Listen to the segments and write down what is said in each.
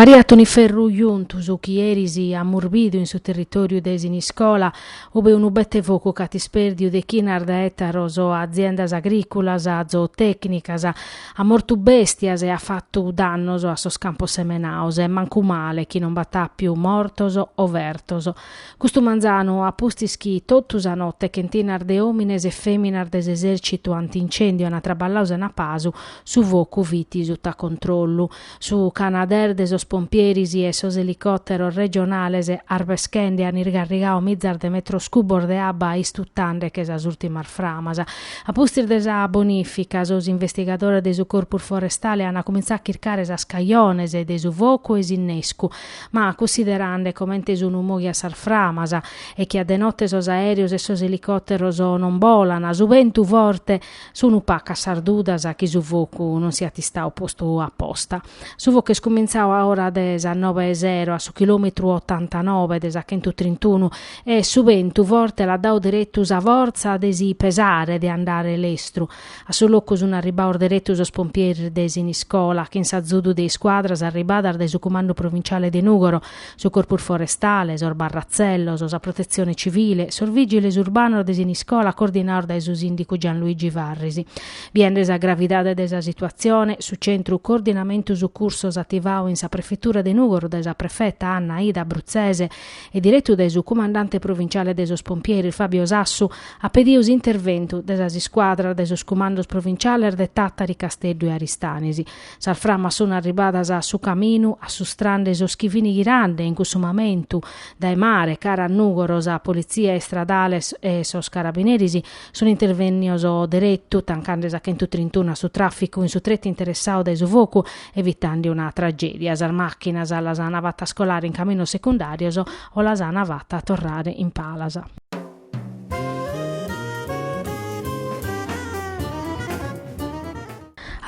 Pariat un'iferru juntu su chi eris amus bidu in su territòriu de Siniscola, ube unu bete focu ch'at ispèrdiu dechinas de ètaros, aziendas agrìculas, zootècnicas, At mortu bèstias e at fatu dannos a sos campos semenados e mancu male chi non b'at àpiu mortos o fertos. Custu manzanu, a pustis chi totu sa note chentinas de òmines e fèminas de s'esèrcitu antincèndiu ant traballadu sena pasu, su focu fit suta controllu. Su Canadair de sos pompieris e sos elicòteros regionales arbeschende an irgarrigadu mizas de metros cubos de abba istutande·che sas ùrtimas framas. A pustis de sa bonìfica, sos investigadores de su Corpus Forestale an cumintzadu a chircare sas cajones de su focu e s'innescu, ma cunsiderande comente sun mòghias sas framas e chi a de note sos aèreos e sos elicòteros non bolan, su bentu forte, Sunu pacas sas dudas chi su focu non siat istadu postu a posta. Su focu est cumintzadu a ora de sas nobe 'e sero a su chilòmetru otantanobe de sa chentutrintunu e su bentu forte l'at dadu deretu sa fortza de si pesare de andare lestru. A su locu sun arribbados deretu sos pompieris de Siniscola chin s'azudu de iscuadras arribbadas dae su Cumandu Provinciale de Nùgoro su Corpus Forestale, sos barratzellos, sa Protetzione Civile, sos vìgiles urbanos de Siniscola coordinados dae su sìndicu Gianluigi Farris. Biende sa gravidade de sa situatzione, su Centru Coordinamentu Sucursos ativadu in sa Prefetura de Nùgoro dae sa Prefeta Anna Aida Bruzzese e diretu dae su Cumandante Provinciale de sos Pompieris Fabio Sassu at pedidu s'interventu de sas iscuadras de sos Cumandos Provinciales de Tàtari, Casteddu e Aristanis. Sas framas sun arribadas a su caminu assustrande sos chi fin ghirande in cussu mamentu dae mare cara a Nùgoro, sa politzia istradale e sos carabineris sun intervènnios deretu, tancande sa chentutrintunu a su tràficu in su tretu interessadu dae su focu, evitande una tragèdia. Sas màchinas las ant fatas colare in caminos secundàrios o las ant fata torrare in palas.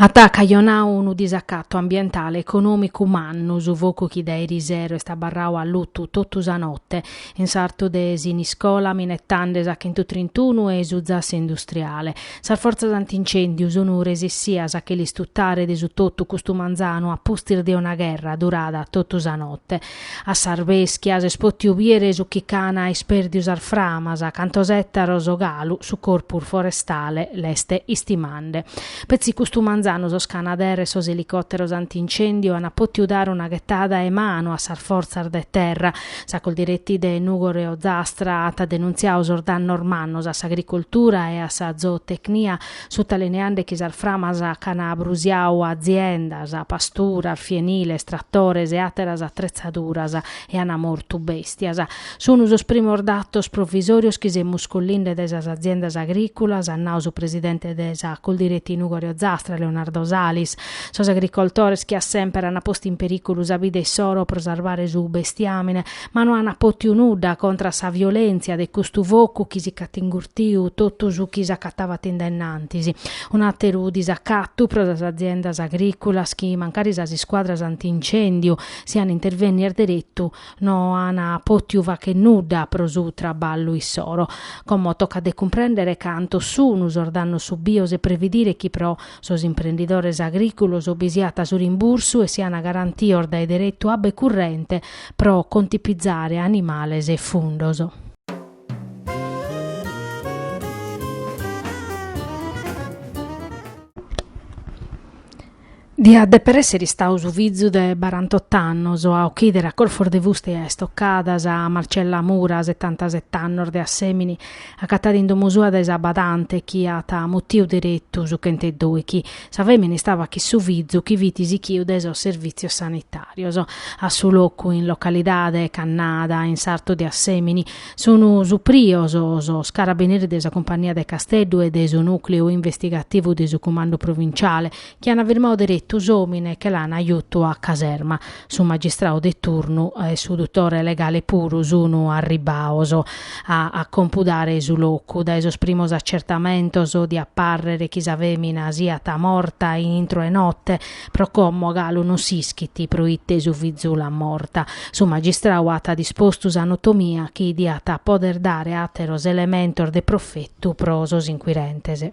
At cajonau unu disacatu ambientale econòmicu mannu su focu chi dae erisero est abarrau allutu totu sa note in sartu de Siniscola, minetande sa Chentutrintunu e su zassu industriale. Sas fortzas antincèndiu sun resessias a che l'istutare de su totu custu manzanu a pustis de una gherra durada totu sa note. A s'arbeschia s'est potiu biere su chi ch'ana isperdiu sas framas, cantos ettaros galu su corpus forestale l'est istimande. Petzi custu manzanu sos Canadair e sos elicotteros antincendiu ana potiu dare una ghettada 'e manu a sas forzas de terra. Sa Coldiretti de Nugoro e Ozastra at denunziadu sos dannos mannos a s'agricoltura e a sa zootecnia sutalineande chi sas framas ch'ana brusiau aziendas, pasturas, fieniles, tratores e àteras atretzaduras e an mortu bèstias, sunt sos primos datos provisòrios chi semus collinde dae sas aziendas agrìculas, at nau su presidente de sa Coldiretti Nùgoro e Ozastra, Leonardo Salis. Sos agricoltores chi a semper an postu in perìculu sa vida issoro pro sarvare su bestiàmine, ma no an potiu nudda contra sa violentzia de custu focu chi si ch'at ingurtiu totu su chi s'acatabat in dennantis. Un'ateru disacatu pro sas aziendas agriculas chi mancari sas iscuadras anti-incèndiu sian intervennias deretu no an potiu facher nudda pro su traballu issoro. Como tocat de cumprèndere cantos sun sos dannos subios e previdire chi pro sos imprendidores agriculos bi siat su rimbursu e sian garantios dae deretu abba e currente pro contipizare animales e fundos. Diat deper èssere istau su fizu de barantot'annos a ochìdere a corfos de fuste e a istocadas a Marcella Mura, setantaset'annos, de Assèmini, acatada in domo sua dae sa badante chi at mutiu deretu su chent'e doichi. Sa fèmina istaba chin su fizu chi fit sichiu dae sos servìtzios sanitàrios. A su locu, in localidade Cannada, in sartu de Assèmini, sunt suprios sos carabineris de sa Cumpannia de Casteddu e de su nùcleu investigativu de su Cumandu Provintziale, chi ant firmadu deretu s'òmine e che l'ana jutu a caserma. su magistrau de turnu e su duttore legale puru sunu arribbaos a compudare su locu, dae sos primos accertamentos diat parrere chi sa femina siat morta intro 'e notte, pro como galu non s'ischit proite su fizu l'at morta. Su magistrau at dispostu s'anotomia chi diat poder dare ateros elementos de profetu pro sos inquirentes.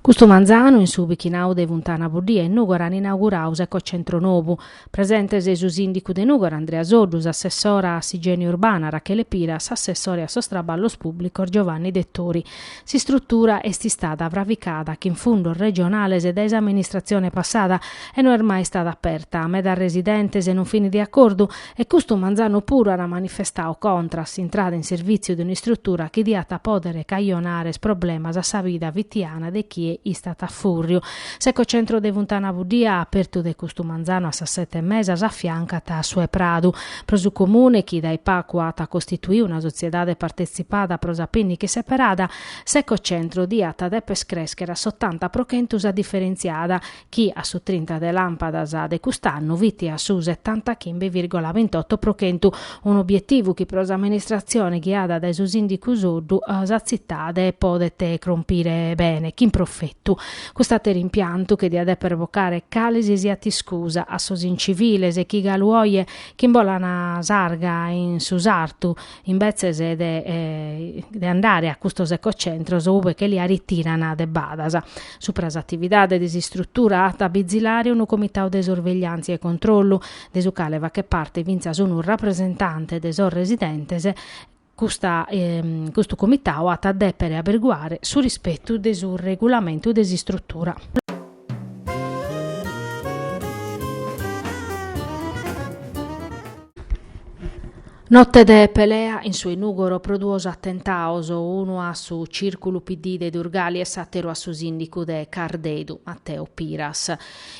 Custu manzanu in su bichinau de Funtana Buddia in Nùgoro an inaugurau s'ecocentru nobu. Presentes su sìndicu de Nùgoro Andrea Soddu, s'assessora a s'igiene urbana Rachele Piras, s'assessore a sos traballos pùblicos Giovanni Dettori. S'istrutura est istada fravicada chin fundos regionales dae s'amministratzione passada e no est mai istada aperta. Medas residentes non fin de acordu E custu manzanu puru at manifestau contra a s'intrada in servìtziu de un'istrutura chi diat pòdere cajonare problemas a sa vida fitiana de chie istat a fùrriu. S'ecocentru de Funtana Buddia, apertu de custu manzanu a sas sete e mesa, s'afiancat a su 'e Pradu. Pro su Comune, chi dae pagu at costituiu una sotziedade partetzipada pro sa pìnniche seperada, s'ecocentru diat dèpere crèschere a s'otanta pro chentu sa diferentziada, chi a su trinta de làmpadas de cust'annu fit a su setantachimbe vìrgola bintoto pro chentu, un'obietivu chi pro s'amministratzione ghiada dae su sìndicu Soddu sa tzitade podet crompire bene, chin profetu. Cust'àteru impiantu che diat dèpere vocare cale si siat iscusa a sos inciviles chi galu oje ch'imbolan s'arga in su sartu imbetzes de andare a custos ecocentros ue che lia ritiran de badas. Supra s'atividade de s'istrutura at a bizilare unu comitau de sorvegliàntzia e controllu, de su cale faghet parte fintzas unu rapresentante de sos residentes, custu comitau at a dèpere aberiguare su rispetu de su regulamentu de s'istrutura. Note de pelea in su 'e Nùgoro pro duos atentaos, unu a su Cìrculu PD de Durgali e s'àteru a su sìndicu de Cardedu, Matteo Piras.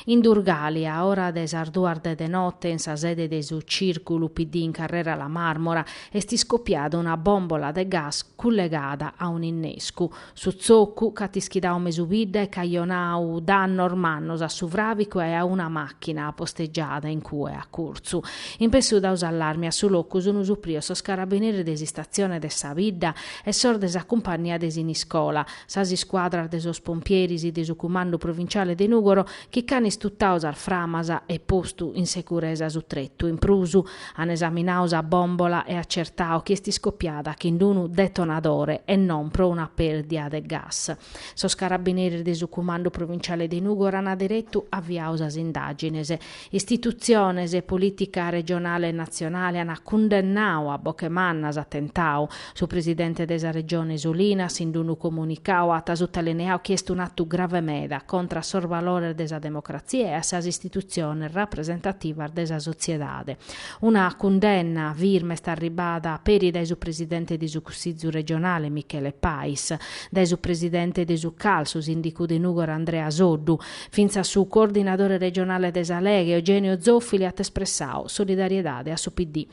In Durgali, a ora de sas duas de de note, in sa sede de su Cìrculu PD in Carrera La Màrmora, est iscopiada una bòmbola de gas cullegada a un'innescu. Su zocu ch'at ischidau mesu bidda e cajonau dannos mannos a su fràvicu e a una màchina postegiada in cue a curtzu. In pessu dau s'allarmi a su locu sunu suprios sos carabineris de s'istatzione de sa bidda e sos de sa cumpannia de Siniscola, sas iscuadras de sos pompieris de su cumandu provinciale de Nùgoro chi ch'an istutau sas framas e postu in seguresa su tretu. In prus, An esaminau sa bòmbola e acertau chi est iscopiada chin d-unu detonadore e non pro una pèrdia de gas. Sos carabineris de su Cumandu Provinciale de Nùgoro an deretu aviau sas indàgines. Istitutziones e polìtica regionale e natzionale an cundennau a boche manna s'atentau, Su presidente de sa Regione Solinas in d-unu comunicau at sutalineau chi est un'atu grave meda contra a sos valores de sa democratzia e a sas istitutziones rapresentativas de sa sotziedade. Una cundenna firme est arribada peri dae su presidente de su Cussizu regionale Michele Pais, dae su presidente de su Cal, su sìndicu de Nùgoro Andrea Soddu, fintzas su coordinadore regionale de sa Lega Eugenio Zoffili at espressau solidariedade a su PD.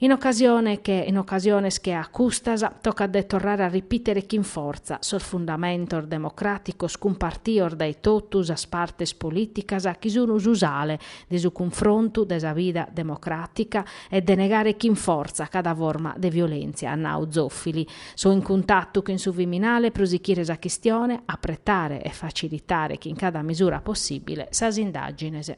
In ocasiones che a custas, tocat de torrare a ripìtere chin fortza sos fundamentos democràticos cumpartios dae totu sas partes polìticas chi sun su sale de su cunfrontu de sa vida democràtica e de negare chin fortza cada forma de violèntzia, at nau Zoffili. So in cuntatu chin su Viminale pro sichire sa chistione, apretare e facilitare chin cada mesura possìbile sas indàgines.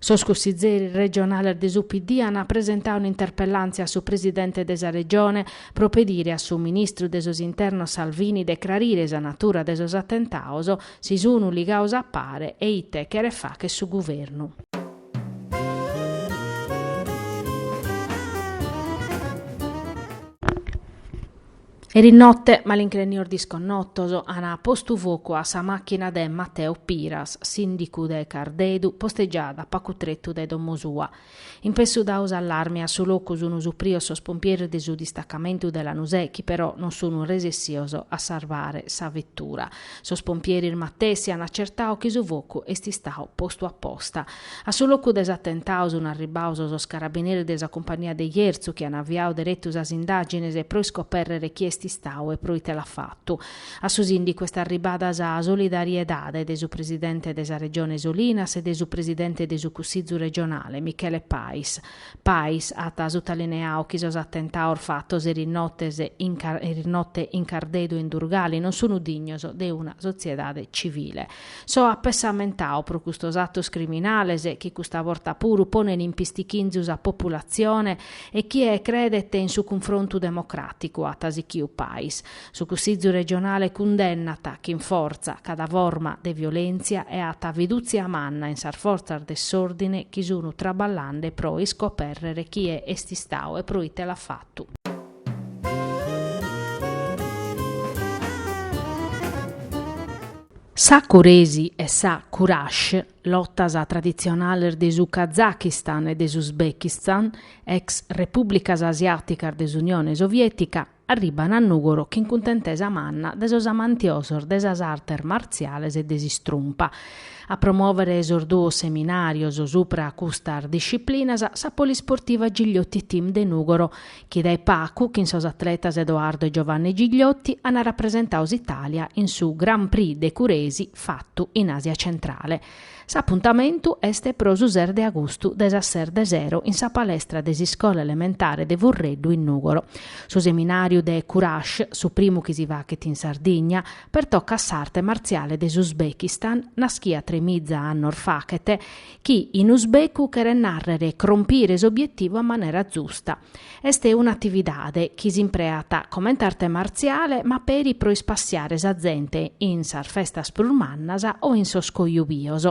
Sos cussizzeris regionales de su PD ant presentau un'interpellàntzia a su presidente de sa Regione pro pedire a su ministru de sos Internos Salvini de crarire sa natura de sos atentaos, si sun ligaos a pare e ite cheret facher su Guvernu. Eris note, malincrenios disconnotos an postu focu a sa machina de Mateo Piras, sindicu de Cardedu, postegiada pacu tretu de domo sua. In pessu dau s'allarmi a su locu sunu suprios sos pompieris de su distacamentu de Lanusè chi però non sunu resessios a sarvare sa vettura. Sos pompieris matessi an accertau chi su focu est istau postu apposta. A su locu de s'atentau sun arribaos sos carabineris de sa cumpagnia de Jerzu chi an aviau deretu sas indàgines pro iscoperrere chie est istau e pro ite l'at fatu. A su sìndicu est arribbada sa solidariedade de su presidente de sa Regione Solinas e de su presidente de su Cussizu regionale, Michele Pais. Pais at sutalineau chi sos atentaos fatos eris notes, eris note in Cardedu e in Durgali non sunu dignos de una sotziedade civile. So apessamentau pro custos atos criminales chi custa borta puru ponen in pistichinzu sa populatzione e chie credet in su cunfrontu democràticu at sichiu Pais. Su Cussizu regionale cundennat, chin fortza, cada forma de violèntzia e at fidùtzia manna in sas fortzas de s'òrdine chi sun traballande pro iscopèrrere chie est istau e pro ite l'at fatu. Sa Kuresi e sa Kurash, lotas traditzionales de su Kazakistan e de s'Uzbekistan, ex repùblicas asiàticas de s'Unione Soviètica, arribant a Nùgoro chin cuntentesa manna de sos amantiosos de sas artes martziales e de s'istrumpa. A promòvere sos duos seminàrios subra custas disciplinas sa Polisportiva Gigliotti Team de Nùgoro chi dae pacu chin sos atletas Edoardo e Giovanni Gigliotti an rapresentau s'Itàlia in su Grand Prix de Kuresi fatu in Àsia Centrale. S'apuntamentu est pro su ses de agustu dae sas ses de sero in sa palestra de s'iscola elementare de Furreddu in Nùgoro. Su seminàriu de Kurash, su primu chi si fachet in Sardigna, pertocat s'arte martziale de s'Uzbekistan, naschia tremiza annos fachet, chi in usbecu cheret nàrrere crompire s'obietivu a manera zusta. Est un'atividade chi s'impreat comente arte martziale ma peri pro ispassiare sa zente in sas festas prus mannas o in sos cojubios.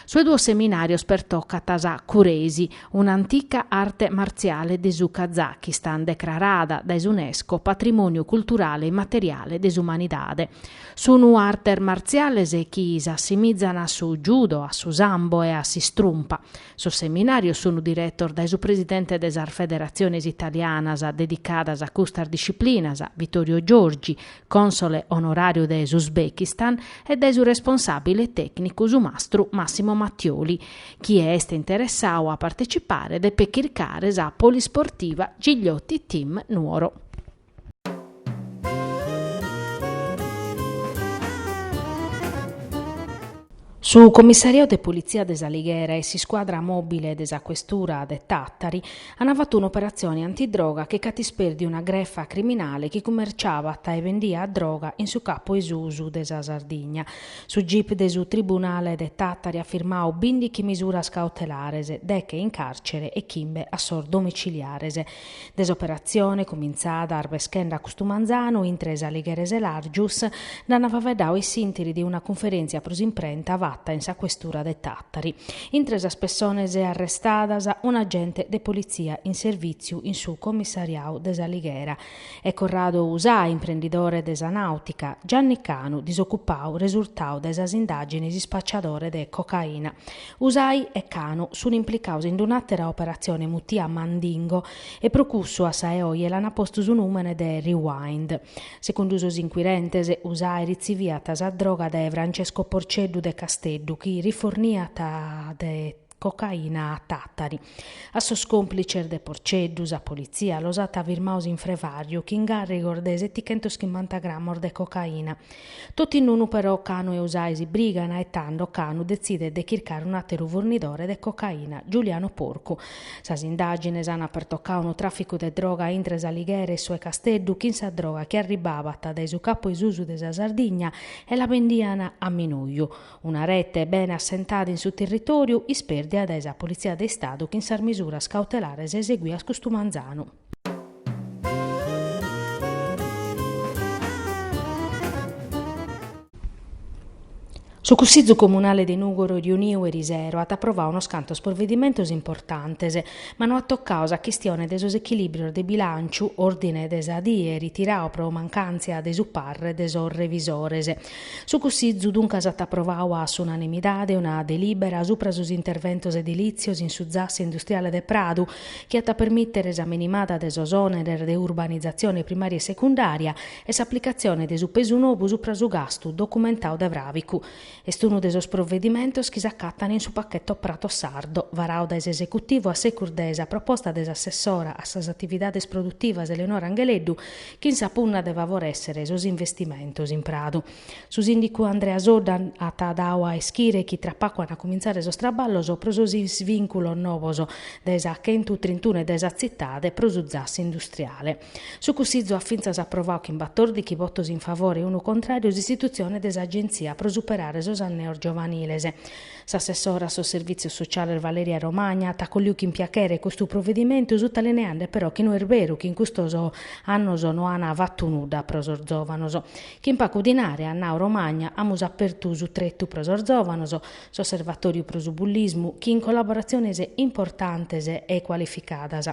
Sos duos seminàrios pertocant sa Kuresi, un'antica arte martziale de su Kazakistan decrarada dae s'Unesco patrimòniu culturale immateriale de s'umanidade. Sunu artes martziales chi s'assimizan a su judo, a su sambo e a s'istrumpa. Sos seminàrios sunu diretos dae su presidente de sas federatziones italianas dedicadas a custas disciplinas, Vittorio Giorgi, cònsole onoràriu de s'Uzbekistan, e dae su responsàbile tècnicu, su mastru Massimo Mattioli. Chie est interessau a partecipare depet chircare sa polisportiva Gigliotti Team Nuoro. Su Commissariau de Politzia de s'Alighera e s'iscuadra mòbile de sa Questura de Tàtari ant fatu un'operatzione antidroga chi nc'at ispèrdiu una grefa criminale chi cumerciavat e bendiat droga in su capu 'e susu de sa Sardigna. Su gip de su Tribunale de Tàtari at firmau bìndichi misuras cautelares, deche in càrcere e chimbe a sos domiciliares. De s'operatzione, cumintzada arbeschende a custu manzanu intre s'Alighera e Selàrgius, nd'ant faveddau sos inchirentes ind una cunferèntzia pro s'imprenta fata in sa questura de Tàtari. Intre sas pessones arrestadas, un agente de politzia in servìtziu in su comissariau de s'Alighera e Corrado Usai, imprendidore de sa nàutica, Gianni Canu, disocupau, resurtau dae sas indàgines ispacciadore de cocaina, Usai e Canu sun implicaus ind un'àtera operatzione mutia Mandingo e pro cussu a sa 'e oje l'ana postu su nùmene de Rewind. Segundu sos inquirentes, Usai ritziviat sa droga dae Francesco Porceddu de Casteddu chi riforniat de cocaina a Tàtari. A sos còmplices de Porceddu sa politzia los at firmaos in frevàriu chin càrrigos de setichentos chimbanta gramos de cocaina. Totu in unu però Canu e Usai si brigan e tando Canu detzidet de chircare un'àteru furnidore de cocaina, Giuliano Porcu. Sas indàgines ant pertocau unu tràficu de droga intre s'Alighera e su 'e Casteddu, chin sa droga chi arribbavat dae su Capu 'e Susu de sa Sardigna e la bendian a minuju, Una rete bene assentada in su territòriu ispèrdia dae sa Politzia de Istadu chin sas misuras cautelares eseguias custu manzanu. Su Cussizu Comunale de Nùgoro riuniu eris ero at aprovau unos cantos provedimentos importantes, ma no at tocau sa chistione de sos echilìbrios de bilànciu, òrdine de sa die ritirau pro mancàntzia de su parre de sos revisores. Su Cussizu duncas at aprovau a s'unanimidade una delìbera subra sos interventos edilìtzios in su zassu industriale de Pradu, chi at a permìtere sa minimada de sos òneres de urbanizatzione primària e secundària e s'aplicatzione de su pesu nou subra su gastu documentau de fràvicu. Est unu de sos provedimentos chi s'acatan in su pacheto Prato Sardo, varau dae s'esecutivu a secus de sa proposta de s'assessora a sas atividades produtivas Eleonora Angheleddu, chin sa punna de favorèssere sos investimentos in Pradu. Su sìndicu Andrea Soddu at dau a ischire chi tra pacu ant a cumintzare sos traballos pro sos isvìnculos novos dae sa chentu trintunu e dae sa tzitade pro su zassu industriale. Su Cussizu at fintzas aprovau chin batòrdichi votos in favore e unu contràriu s'istitutzione de s'Agentzia pro superare sos anneos giovaniles. S'assessora a sos Servìtzios Sociales Valeria Romagna at acolliu chin piachere custu provedimentu, sutalineende però chi no est beru chi in custos annos no an fatu nudda pro sos zòvanos. Chin pacu dinare, at nau Romagna, amus apertu su tretu pro sos zòvanos, s'osservatòriu pro su bullismu, chin collaboratziones importantes e cualificadas.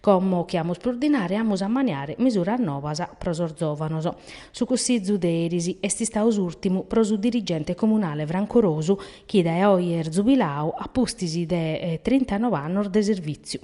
Como chi amus prus dinare amus a maniare misuras novas pro sos zòvanos. Su Cussizu de eris est istau s'ùrtimu pro su dirigente comunale Franco Rosu chi dae oje est zubilau a pustis de trintanove annos de servìtziu.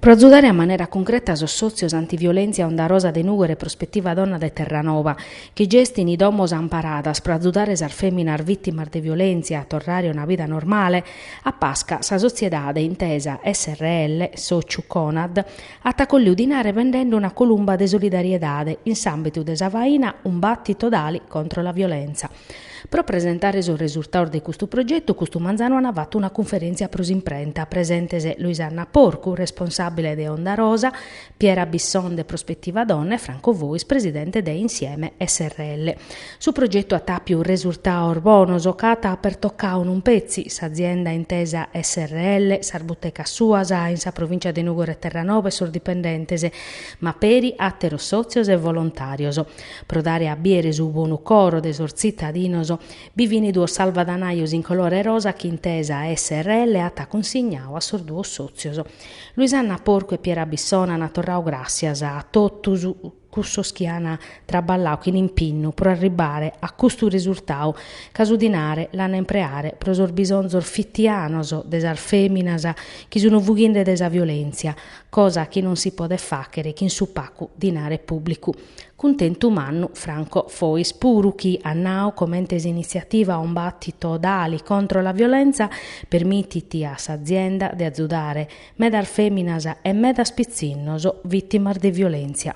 Pro azudare a manera cuncreta sos sòtzios antiviolèntzia Onda Rosa de Nùgoro e Prospettiva Donna de Terranova, chi gestint domos amparadas pro azudare sas fèminas vìtimas de violèntzia a torrare a una vida normale, a Pasca sa sotziedade Intesa srl, sòciu Conad, at acolliu dinare bendende una columba de solidariedade in s'àmbitu de sa faina Un battito d'ali contro la violenza. Pro presentare sos resurtaos de custu progetu custu manzanu an fatu una cunferèntzia pro s'imprenta, presentes Luisanna Porcu, responsàbile de Onda Rosa, Piera Bisson de Prospettiva Donna e Franco Fois, presidente de Insieme srl. Su progetu at àpiu resurtaos bonos ca at pertocau non petzi s'azienda Intesa srl, sas butecas suas in sa provìncia de Nùgoro e Terranova e sos dipendentes, ma peri àteros sòtzios e volontàrios. Pro dare a biere su bonu coro de sos tzitadinos, bi fin duos salvadanaios in colore rosa chi Intesa srl at cunsignau a sos duos sòtzios. Luisanna Porcu e Piera Bisson ant torrau gràssias a totus cussos chi ant traballau chin impinnu pro arribbare a custu resurtau ca su dinare l'ant a impreare pro sos bisonzos fitianos de sas fèminas chi sun fughinde de sa violèntzia, cosa chi non si podet fàchere chin su pacu dinare pùblicu. Cuntentu mannu Franco Fois puru chi at nau comente s'iniziativa Un battito d'ali contro la violenza permitit a s'azienda de azudare medas feminas e medas pitzinnos vitimas de violenzia.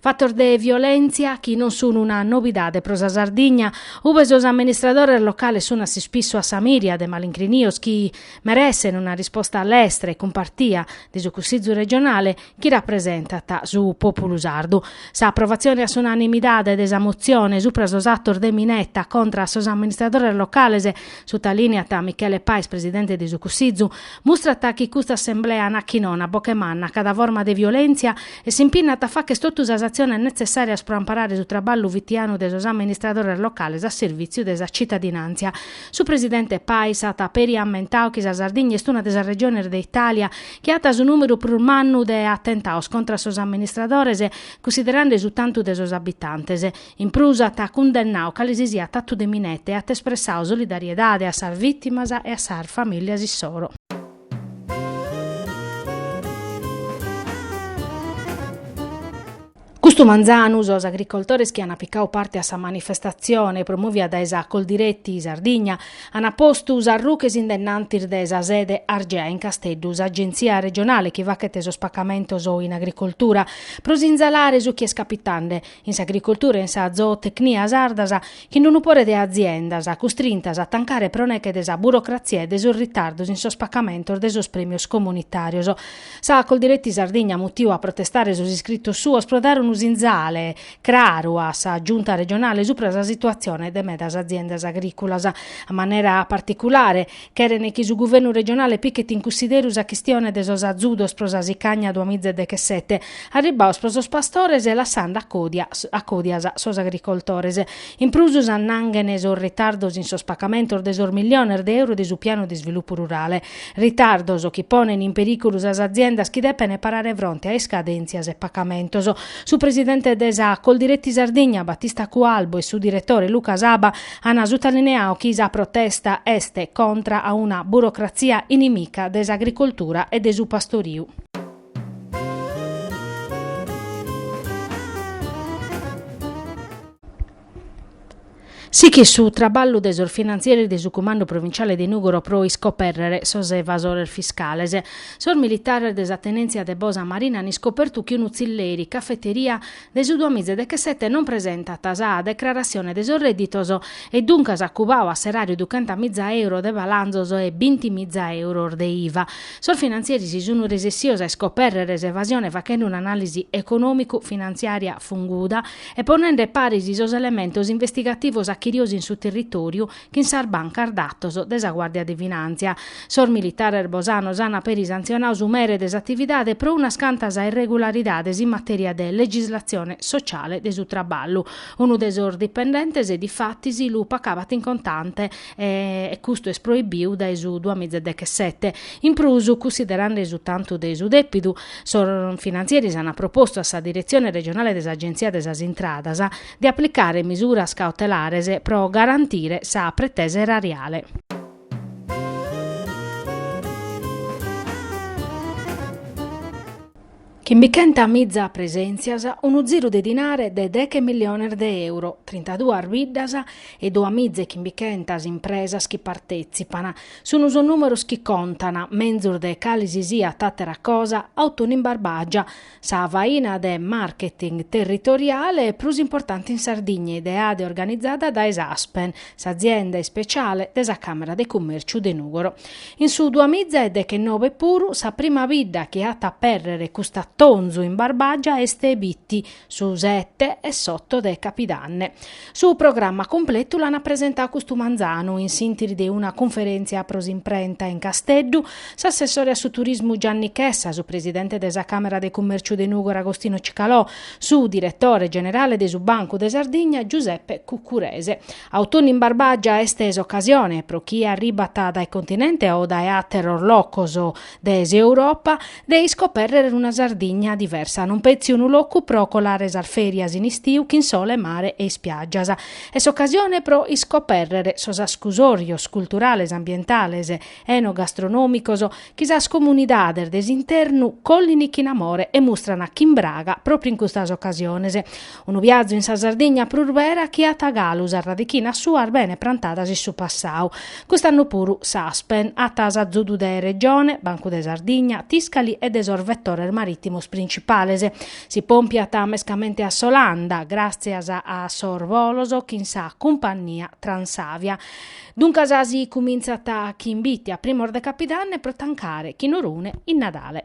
Fatos de violèntzia chi non sun una nobidade pro sa Sardigna, ue sos amministradores locales sun a s'ispissu a sa mìria de malincrinios chi meressent una risposta lestra e cumpartia de su Cussizu regionale chi rapresentat su pòpulu sardu. Sa aprovatzione a s'unanimidade de sa motzione supra sos atos de mineta contra a sos amministradores locales, sutalìniat Michele Pais presidente de su Cussizu, mustrat chi custa assemblea narat chi nono a boghe manna a cada forma de violèntzia e s'impinnat a facher totu sas atziones netzessàrias pro amparare su traballu fitianu de sos amministradores locales a servìtziu de sa tzitadinàntzia. Su presidente Pais at peri ammentadu chi sa Sardigna est una de sas regiones de Itàlia chi at su nùmeru prus mannu de atentados contra sos amministradores, cunsiderende su tantu de sos abitantes. In prus at cundennadu cale si siat atu de mineta e at espressadu solidariedade a sas vìtimas e a sas famìlias issoro. Custu manzanu sos agricoltores chi ant picadu parte a sa manifestatzione promòvia dae sa Coldiretti Sardigna ant postu sas ruches in dennantis de sa sede Argea in Casteddu, s'agentzia regionale chi faghet sos pacamentos in agricoltura, pro sinzalare su chi est capitande in s'agricoltura e in sa zootecnia sardas. chin unu pore de aziendas, custrintas a tancare pro neche de sa burocratzia e de sos ritardos in sos pacamentos de sos prèmios comunitàrios. Sa Coldiretti Sardigna at mutiu a protestare sos iscritos suos pro dare unu sinzale craru a sa Giunta regionale supra sa situatzione de medas aziendas agrìculas, a manera particulare, Cheren chi su guvernu regionale pichet in cussideru sa chistione de sos azudos pro sa sicagna duamizedechesete, arribbados pro sos pastores e lassende a codias sos agricoltores. In prus s'annanghen sos ritardos in sos pagamentos de sos milliones de euro de su pianu de isvilupu rurale. Ritardos chi ponen in perìculu sas aziendas chi depen parare fronte a iscadèntzias e pagamentos. Su presidente de sa Coldiretti Sardigna, Battista Cualbu e su diretore Luca Saba An sutallineau chi sa protesta est contra a una burocratzia inimica de s'agricoltura e de su pastoriu. Sichit su traballu de sos finantzieris de su Cumandu Provinciale de Nùgoro pro iscopèrrere sos evasores fiscales. Sos militares de sa tenèntzia de Bosa Marina an iscopertu chi unu tzilleri, cafeteria, de su duamizedechesete no at presentau sa decrarassione de sos rèdditos e duncas at cubau a s'eràriu duchentamiza euro de balanzos e binti miza euros de iva. Sos finantzieris sun resessios a iscopèrrere s'evasione fachende un'anàlisi econòmicu-finantziària funguda e ponende paris sos elementos investigativos achirios in su territòriu chin sas bancas datos de sa Guàrdia de Finàntzia. Sos militares bosanos ant peri santzionau su mere de s'atividade pro unas cantas irregularidades in matèria de legislatzione sotziale de su traballu. Unu de sos dipendentes difatis lu pacabat in contante e custu est proibiu dae su duamiza e dechesete. In prus, cussiderande su tantu de su dèpidu, sos finantzieris ant propostu a sa Diretzione regionale de s'Agenzia de sas Intradas de aplicare misuras cautelares pro garantire sa pretesa erariale. Chimbichentamiza presèntzias, unu ziru de dinare de deghe milliones de euro, trintaduas biddas e duamiza e chimbichentas impresas chi partètzipan, sun sos nùmeros chi contan, menzus de cale si siat àtera cosa, Autunnu in Barbagia, Sa faina de marketing territoriale prus importante in Sardigna ideada e organizada dae s'Aspen, s'azienda ispeciale de sa Camera de Cummerciu de Nugoro. In su duamiza e dechenobe puru sa prima bidda chi at apèrrere cust'atonzu in Barbagia est Bitti, su sete e s'oto de capidanne. Su programma cumpletu l'ant presentau custu manzanu, in s'intre de una cunferèntzia pro s'imprenta in Casteddu, s'assessore a su turismu Gianni Chessa, su presidente de sa Càmera de Cummèrciu de Nùgoro Agostino Cicalò, su diretore generale de su Bancu de Sardigna Giuseppe Cuccurese. Autunnu in Barbagia est s'ocasione, pro chie arribat dae continente o dae àteros locos, de s'Europa, de iscopèrrere una Sardigna diversa, non petzi unu locu pro colare sas fèrias in istiu chin sole, mare e ispiàgias. Est s'ocasione pro iscopèrrere sos ascusòrios culturales, ambientales, enogastronòmicos chi sas comunidades de s'internu collin chin amore e mustran chin braga pròpriu in custas ocasiones. Unu viazu in sa Sardigna prus bera chi at galu sas radichinas suas bene prantadas in su passau. Cust'annu puru s'Aspen at s'azudu de Regione, Bancu de Sardigna, Tiscali e de sos vetores marittimos principales. Si pompiat mescamente a s'Olanda, gràtzias a sos bolos chin sa cumpannia Transavia. Duncas si cumintzat chin Bitti a primos de Capidanne pro tancare chin Orune in Nadale.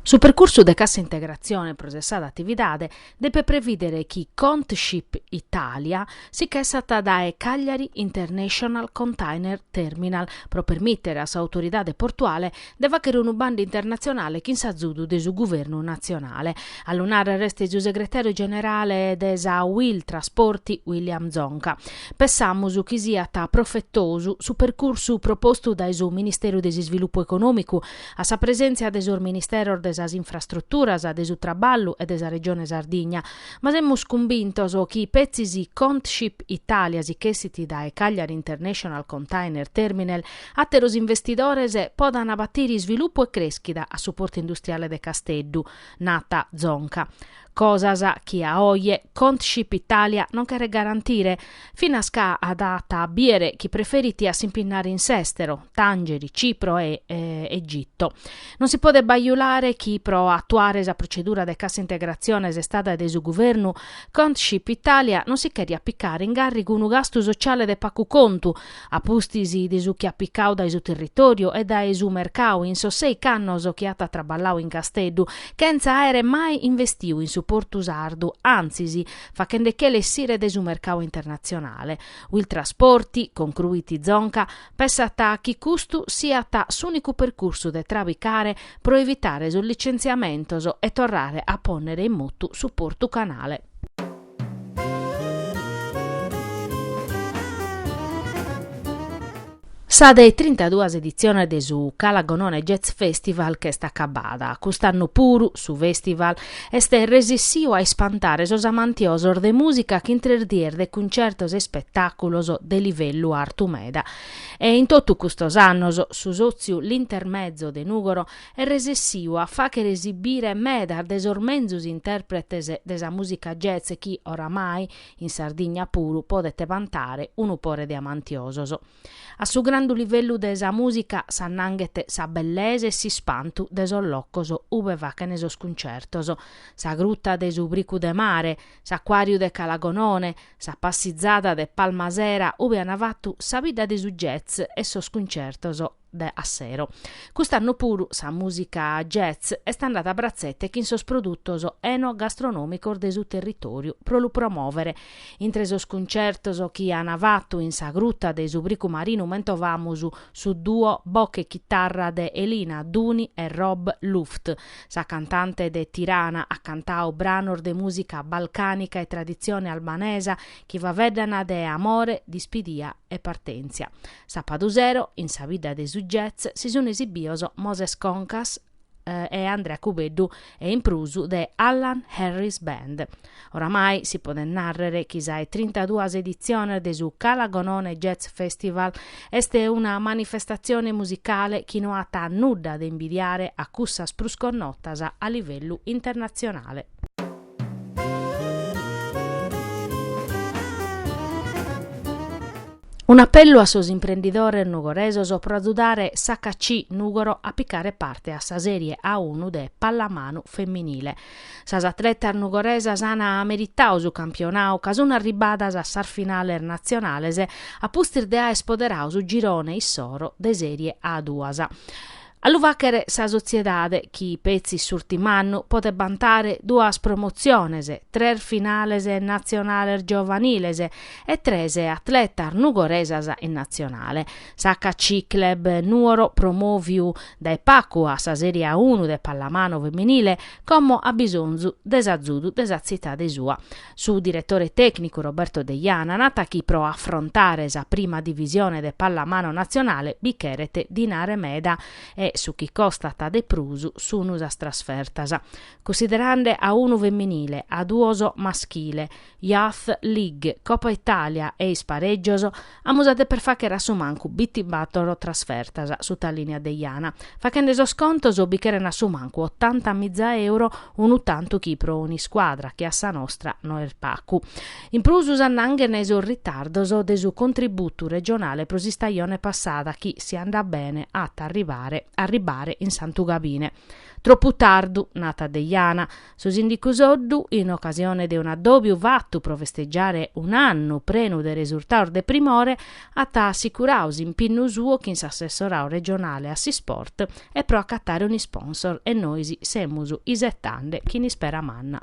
Su percursu de cassa integrazione pro sessada atividade depet previdere chi Contship Italia si ch'essat dae Cagliari International Container Terminal pro permìtere a s'autoridade portuale de fàghere unu bandu internatzionale chin s'azudu de su guvernu natzionale. A lu nàrrere est su segretàriu generale de sa Uil Trasporti, William Zonca. Pessamus chi siat profetosu su percursu propostu dae su Ministeru de s'Isvilupu Econòmicu, a sa presèntzia de sos Ministeros de sas Infrastruturas, de su Traballu e de sa Regione Sardigna, ma semus cumbintos chi petzi si Contship Italia si ch'essit dae Cagliari International Container Terminal Àteros investidores podant batire isvilupu e crèschida a su Portu Industriale de Casteddu, nat Zonca. Cosas chi a oje Contship Italia non cheret garantire, finas ca dat a bìdere chi preferit a s'impinnare in s'èstero, Tàngeri, Cipro e Egitto. Non si podet bajulare chi pro atuare sa procedura de cassa integratzione istada de su Guvernu, Contship Italia non si cherjat picare in gàrrigu unu gastu sotziale de pagu contu, a pustis de su chi at picau dae su territòriu e dae su mercau in sos sèichi annos chi at traballau in Casteddu, chentza àere mai investiu in su portu sardu, antzis, faghende che·lu essire dae su mercau internatzionale. Uil Trasporti, concruit Zonca, pessat chi custu siat s'ùnicu percursu de trabicare pro evitare sos licentziamentos e torrare a pònnere in motu su portu canale. Sa de trintaduas editziones de su Cala Gonone Jazz Festival ch'est acabada. Cust'annu puru su festival est resissiu a ispantare sos amantiosos de mùsica chin tres dies de cuncertos e ispetàculos de livellu artu meda. E in totu custos annos su sòtziu L'Intermezzo de Nùgoro est resissiu a fàghere esibire medas de sos menzus intèrpretes de sa mùsica jazz chi, oramai, in Sardigna puru podet vantare unu pore de amantiosos. A su grandu livellu de sa mùsica s'annanghet sa bellesa e s'ispantu de sos locos ube fàghen sos cuncertos, sa gruta de su Bricu de Mare, s'acuàriu de Cala Gonone, sa passizada de Palmasera ube an fatu sa bidda de su jazz e sos cuncertos. de a sero. Cust'annu puru sa mùsica jazz est andada a bratzete chin sos produtos eno-gastronòmicos de su territòriu pro lu promòvere. Intre sos cuntzertos chi an fatu in sa Gruta de su Boe Marinu mentovamus su duo boche e chitarra de Elina Duni e Rob Luft. Sa cantante de Tirana at cantadu branos de mùsica balcànica e traditzione albanesa chi faeddana de amore, dispidia e partèntzia. Sapadu sero, in sa bidda de su jazz si sun esibios Moses Concas e Andrea Cubeddu e in prus The Allan Harris Band. Oramai si podet nàrrere chi sa 'e trintaduas editziones de su Calagonone Jazz Festival est una manifestatzione musicale chi no at nudda de imbidiare a cussas prus connotas a livellu internatzionale. Un'apellu a sos imprendidores nugoresos pro agiudare s'HC Nùgoro a picare parte a sa Sèrie A unu de pallamanu feminile. Sas atletas nugoresas an meritadu su campionadu ca sunt arribbadas a sas finales natzionales a pustis de aer spoderadu su girone issoro de Sèrie A duas. A lu fàghere sa sotziedade chi petzi s'ùrtim'annu podet bantare duas promotziones, tres finales natzionales giovaniles e tres atletas nugoresas in natzionale. S'HC Club Nuoro, promòviu dae pagu a sa Sèrie A unu de pallamanu feminile, como at bisonzu de s'azudu de sa tzitade sua. Su diretore tècnicu Roberto Deiana nat chi pro afrontare sa prima divisione de pallamano natzionale bi cheret dinare meda e su chi costat de prus sun sas trasfertas. Cussiderande A unu feminile, A duos maschile, Youth League, Copa Italia e isparègios, Amus a deper fàghere a su mancu bintibatoro trasfertas sutalìniat Deiana. Faghende sos contos bi cheren a su mancu otanta miza euro unu tantu chi pro un'iscuadra che a sa nostra no est pagu. In prus s'annanghen sos ritardos de su contributu regionale pro s'istajone passada chi, si andat bene, at a arribare in Santu Gabine. Tropu tardu, nat Deiana. Su Sìndicu Soddu, in ocasione de un'addòbiu fatu pro festegiare un'annu prenu de resurtados de primore, at assicuradu s'impinnu suo chin s'assessoradu regionale a s'isport e pro acatare un'isponsor e nois semus isetande chin ispera manna.